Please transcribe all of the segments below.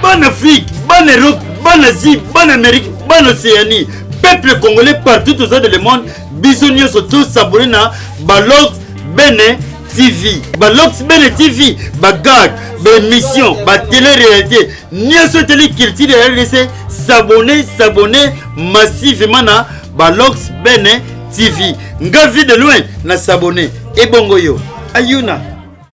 bana afrique bana europe bana asie bana amérique bana océanie peuple congolais partout toza de le monde biso nyonso tosabone na balog bene tv balog bene tv bagag baémission batele réalité nyonso eteli culture ya rdc sabone sabone massivement na balog bene tv nga vie de loin na sabone ebongo yo ayuna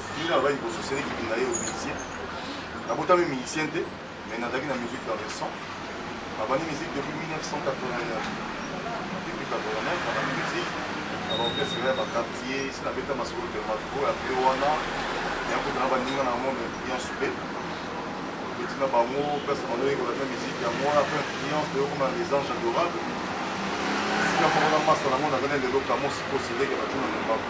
Ndenge nalobaki liboso, Cedric Kitunda ye musicien. Nabotami musicien te, mais nazalaki na musique dans le sang. Nabandi musique depuis 1989. Depuis 89, nabandi musique na baorchestre ya baquartier, si nabeta masolo Dermatco ya pe wana, nayakuta na baninga na monde influence pe petit na bango place bango yekola na musique yango wana pe influence pe okoma les anges adorables. Sika moko na masa na ngo nazali lelo kamo sikosi leke batuna na mbavu.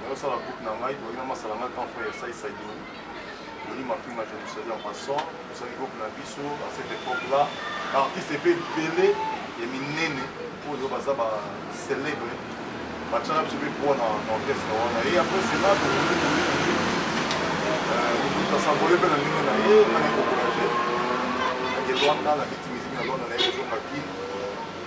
Nazosala groupe na ngai toyaki na masala ngai grand frère Sai Saidini Denis Mafinga je vous salue en passant tosali groupe na biso à cette époque là baartiste mpe ebele ya minene oyo baza ba célèbre batyaka biso mpe poa na orchestre wana ye après cela tosambole mpe na ndenge na ye nani kokola te nake lwanda na biti miziki na lwanda na ye kozonga kini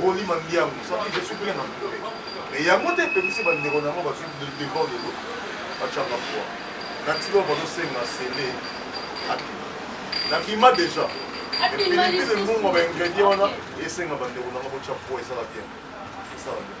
Rolly Mandiangu soki je suis plein na mokole mais yango nde epemisi bandeko na yango bazwi devant lelo batyanga poa na ntika oyo bazosenga sele akima nakima déjà epelipele mbongo baingredient wana esenga bandeko na yango botya poa esala bien esala bien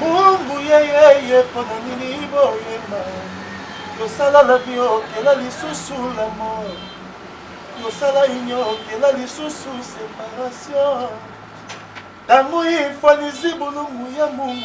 mungu yeyeye mpo na nini boyema tosala na biokela lisusu la mort tosala inyokela lisusu separation ntango ifanizi bolongo ya mungu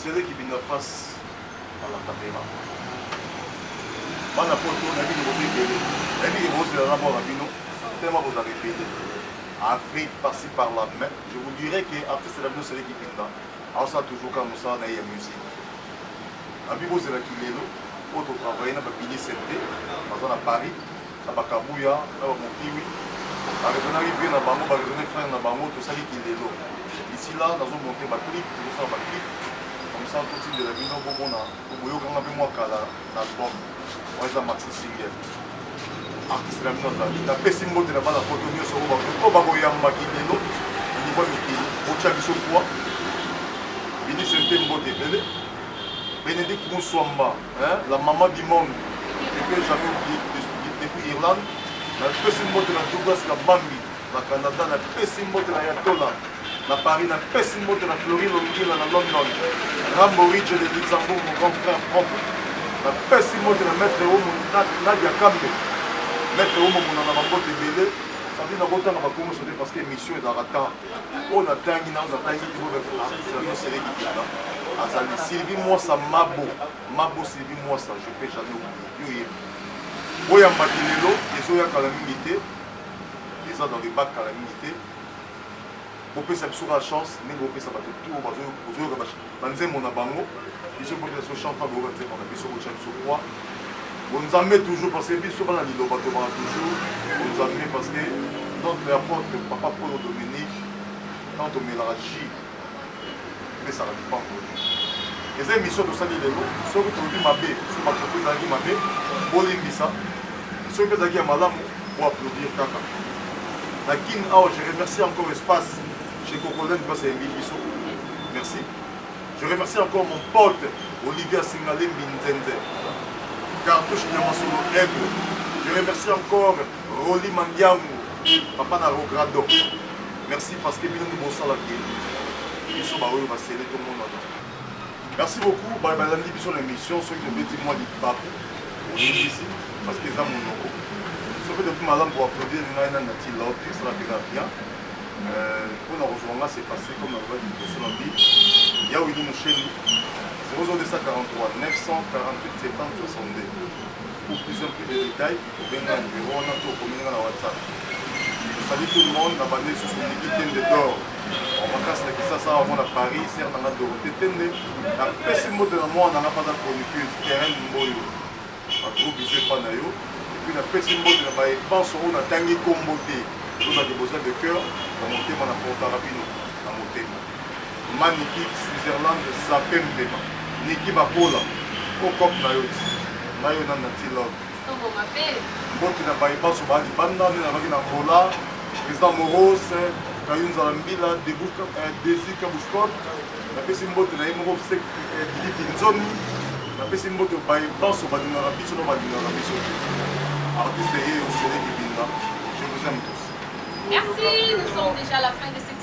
sere kibinga face à la caméra bana poto nayebi ke boza ebele nayebi ke bozela na bwaka bino tellement bozalaka ebele afrique parci par là mais je vous dirais que artiste na bino sere kibinga Azosala toujours kaka mosala na ye ya musique. Nalobi bozela kilelo oyo to travailler na ba Billy Sente baza na Paris na ba Kabuya na ba Mokiwi ba raisonnaki vieux na bango ba raisonne frère na bango tosali kilelo ici là nazo monter ba clip tozosala ba clip comme ça totindela bino bomona Okoyoka nga mpe mwa kala na album wana eza maxi single artiste na bino azali napesi mbote na bana poto nyonso oyo bakoyambaki lelo na niveau ya mikili botya biso pwa binise mpe mbote ebele benedict muswamba la mama du monde epe jamais oublié depuis irlande napesi mbote na douglas kabambi Na Canada na pesi mbote na Ayatollah na Paris na pesi mbote na Flori Longila na London Rambo Ridge de Luxembourg mon grand frère propre na pesi mbote na maître Omo Nadia Kambe maître Omo monana ba mbote ebele sadi na kotanga ba kombo sote parce que émission ezalaka temps oyo na tangi na oza tangi ti bobe artiste na yo sele kikela azali Sylvie Mwasa Mabo Mabo Sylvie Mwasa je peux jamais oublier yo yebi boyamba ti lelo ezoya kala mingi te eza dans le bas kala mingi te bopesa biso kaka chance ndenge bopesa bato tour bozoyoka banzembo na bango biso bopesa biso chante boyoka nzembo na biso botya biso poids bonzambe toujours parce que biso bana liloba tobaka toujours bonzambe parce que notre apôtre papa polo dominique ntango tomelaka jus epesaka lipamboli. Eza emission tosali lelo, soki tolobi mabe sur ba propos ezalaki mabe, bolimbisa, soki pe ezalaki ya malamu, bo applaudir kaka. Na kin awa, je remercie encore espace chez Cocoland place ayembeli biso. Merci. Je remercie encore mon pote Olivier Asingalembi Nzenze, Cartouche Nyamasolo Aigle. Je remercie encore Rolly Mandiangu, papa na Rogrado. Merci parce que bino nde bosala que biso baoyo basele tomonana. Merci beaucoup baye balandi biso na émission soki tobeti mwa libaku oyebisi parce que eza monoko soki toki malamu koaplaudir ngai na nati laut esala mpenza bien mpo na kozwa nga se passe comme nalobaki liboso na bi yawini mosheni 00243 948 70 62 pour plus un plus de détails Obenga na numero wana to okomi nga na WhatsApp. Salut tout le monde, na bande sous Liki Tende d'or. En vacances na Kisasa awa mona Paris, sœur nanga Dorothée Tende. Na pesi mbote na mwana nanga pata chroniqueuse Terrain Mboyo. Ba gros bisous epa na yo. Et puis na pesi mbote na baye banso oyo na tangi kombo te. Loba de besoin de cœur, na motema na portaka bino na motema. Maniki Switzerland Zapembema. Niki Bakola. Kokop na yo. Nayo na Nati Love. Sobo mabe. Mbote na bayi banso ba libanda nde nazalaki na Angola, President Morose, Kayunza na Mbila, Desi Kabushkot, napesi mbote na ye moko Fsek Didi Kinzomi, napesi mbote bayi banso balingaka biso na balingaka biso te. Artiste eye Osele Kibinda, je vous aime tous. Merci, nous sommes déjà à la fin de cette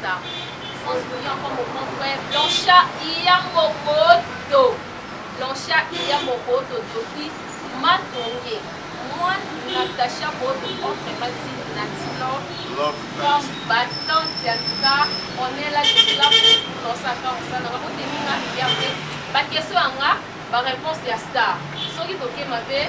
Sa sans boni encore mon grand frère Blancha iya mokoto Blancha iya mokoto doki matonge moi Natacha Bodo entre Mati Nati Love comme battante ya Luka on est là je suis là pour dans sa part ça na bango te minga ya pe ba question ya nga ba réponse ya star soki tokema pe